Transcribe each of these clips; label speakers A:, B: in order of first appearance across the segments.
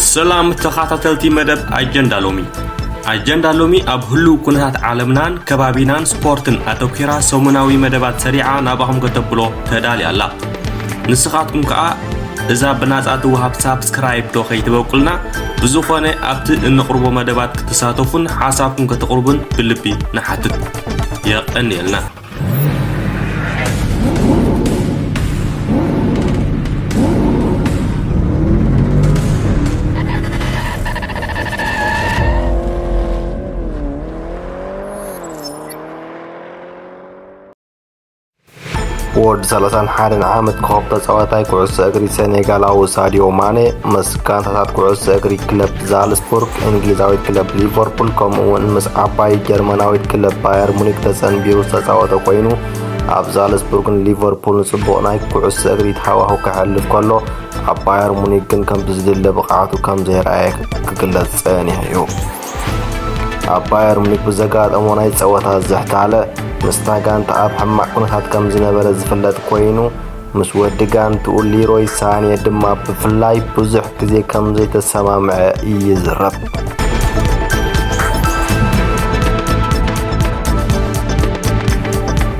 A: ሰላም ተኻታተልቲ መደብ ኣጀንዳ ሎሚ ኣጀንዳ ሎሚ ኣብ ህሉው ኩነታት ዓለምናን ከባቢናን ስፖርትን ኣተኲራ ሰሙናዊ መደባት ሰሪዓ ናባኹም ከተብሎ ተዳልያ ኣላ ንስኻትኩም ከኣ እዛ ብናጻ ትወሃብ ሳብስክራይብ ዶ ከይትበቁልና ብዝኾነ ኣብቲ እንቕርቦ መደባት ክትሳተፉን ሓሳብኩም ከተቕርቡን ብልቢ ንሓትት የቐንየልና
B: ወዲ 31 ዓመት ኮኸብ ተጻዋታይ ኩዕሶ እግሪ ሰኔጋላዊ ሳዲዮ ማኔ ምስ ጋንታታት ኩዕሶ እግሪ ክለብ ዛልስቡርግ እንግሊዛዊት ክለብ ሊቨርፑል ከምኡ'ውን ምስ ዓባይ ጀርመናዊት ክለብ ባየር ሙኒክ ተጸንቢሩ ዝተጻወተ ኮይኑ ኣብ ዛልስቡርግን ሊቨርፑልን ጽቡቕ ናይ ኩዕሶ እግሪት ሃዋሁ ከሕልፍ ከሎ ኣብ ባየር ሙኒክ ግን ከም ብዝድለ ብቕዓቱ ከም ዘይረኣየ ክግለጽ ጸኒሑ እዩ። ኣብ ባየር ሙኒክ ብዘጋጠሞ ናይ ጸወታ ዝሕታለ ምስታ ጋንታ ኣብ ሕማቕ ኩነታት ከም ዝነበረ ዝፍለጥ ኮይኑ ምስ ወዲ ጋንትኡ ሊሮይ ሳኔ ድማ ብፍላይ ብዙሕ ግዜ ከም ዘይተሰማምዐ ይዝረብ።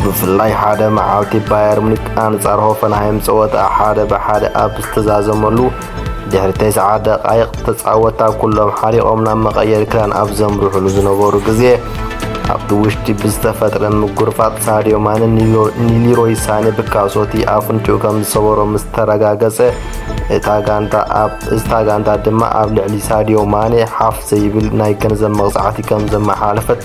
B: ብፍላይ ሓደ መዓልቲ ባየር ሙኒክ ኣንጻር ሆፈንሃይም ጸወታ ሓደ ብሓደ ኣብ ዝተዛዘመሉ ድሕሪ ተስዓ ደቓይቕ ተጻወታ ኩሎም ሓሪቖም ናብ መቐየሪ ክዳን ኣብ ዘምርሑሉ ዝነበሩ ግዜ ኣብቲ ውሽጢ ብዝተፈጥረ ምጉርፋጥ ሳድዮ ማነ ንሊሮይ ሳነ ብካሶቲ ኣፍንጭኡ ከም ዝሰበሮ ምስ ተረጋገጸ እታ ጋንታ ኣብ እታ ጋንታ ድማ ኣብ ልዕሊ ሳድዮ ማነ ሓፍ ዘይብል ናይ ገንዘብ መቕጻዕቲ ከም ዘመሓለፈት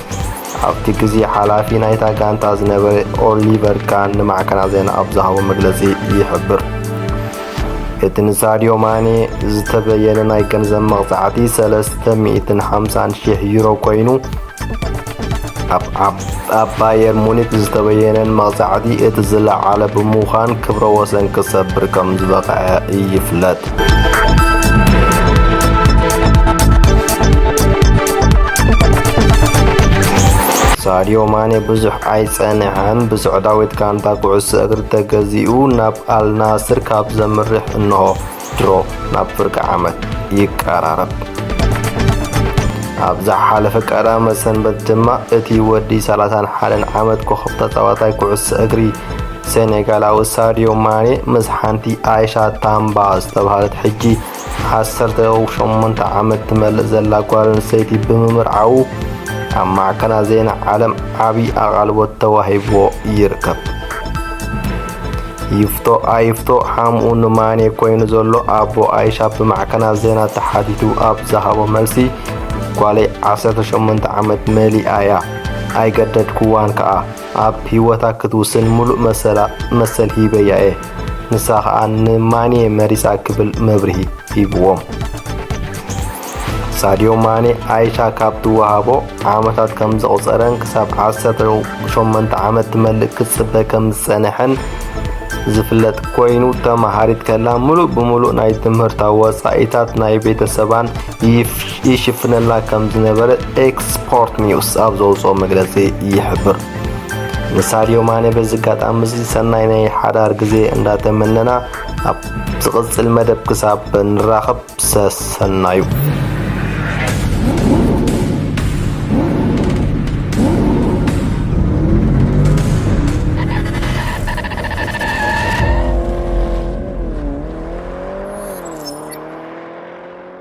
B: ኣብቲ ግዜ ሓላፊ ናይታ ጋንታ ዝነበረ ኦሊቨር ካን ንማዕከናት ዜና ኣብ ዝሃቦ መግለጺ ይሕብር። እቲ ንሳድዮ ማኔ ዝተበየነ ናይ ገንዘብ መቕጻዕቲ 350 ሽሕ ዩሮ ኮይኑ ኣብ ባየር ሙኒክ ዝተበየነን መቕጻዕቲ እቲ ዝለዓለ ብምዃን ክብረ ወሰን ክሰብር ከም ዝበቕዐ ይፍለጥ። ሳድዮ ማኔ ብዙሕ ኣይጸንሐን ብስዑዳዊት ጋንታ ኩዕሶ እግሪ ተገዚኡ ናብ ኣልናስር ካብ ዘምርሕ እንሆ ድሮ ናብ ፍርቂ ዓመት ይቀራረብ ኣብ ዝሓለፈ ቀዳመ ሰንበት ድማ እቲ ወዲ 31 ዓመት ኮኸብ ተጻዋታይ ኩዕሶ እግሪ ሴኔጋላዊ ሳድዮ ማኔ ምስ ሓንቲ ኣይሻ ታምባ ዝተባሃለት ሕጂ 18 ዓመት ትመልእ ዘላ ጓል ኣንስተይቲ ብምምርዓዉ ኣብ ማዕከናት ዜና ዓለም ዓብዪ ኣቓልቦት ተዋሂብዎ ይርከብ ይፍቶ ኣይፍቶ ሓምኡ ንማኔ ኮይኑ ዘሎ ኣቦ ኣይሻ ብማዕከናት ዜና ተሓቲቱ ኣብ ዝሃቦ መልሲ ጓለይ 18 ዓመት መሊኣ እያ ኣይገደድክዋን ከኣ ኣብ ሂወታ ክትውስን ምሉእ መሰላ መሰል ሂበያ እየ ንሳ ከኣ ን ማኔ መሪጻ ክብል መብርሂ ሂብዎም። ሳድዮ ማኔ ኣይሻ ካብ ትወሃቦ ዓመታት ከም ዘቑጸረን ክሳብ ዓሰርተ ሸሞንተ ዓመት ትመልእ ክትጽበ ከም ዝጸነሐን ዝፍለጥ ኮይኑ ተመሃሪት ከላ ምሉእ ብምሉእ ናይ ትምህርታ ወጻኢታት ናይ ቤተሰባን ይሽፍነልና ከም ዝነበረ ኤክስፖርት ኒውስ ኣብ ዘውፅኦ መግለፂ ይሕብር። ንሳድዮ ማነ በዚ ኣጋጣሚ እዚ ሰናይ ናይ ሓዳር ግዜ እንዳተመነና ኣብ ዝቕጽል መደብ ክሳብ ንራኸብ ሰሰናዩ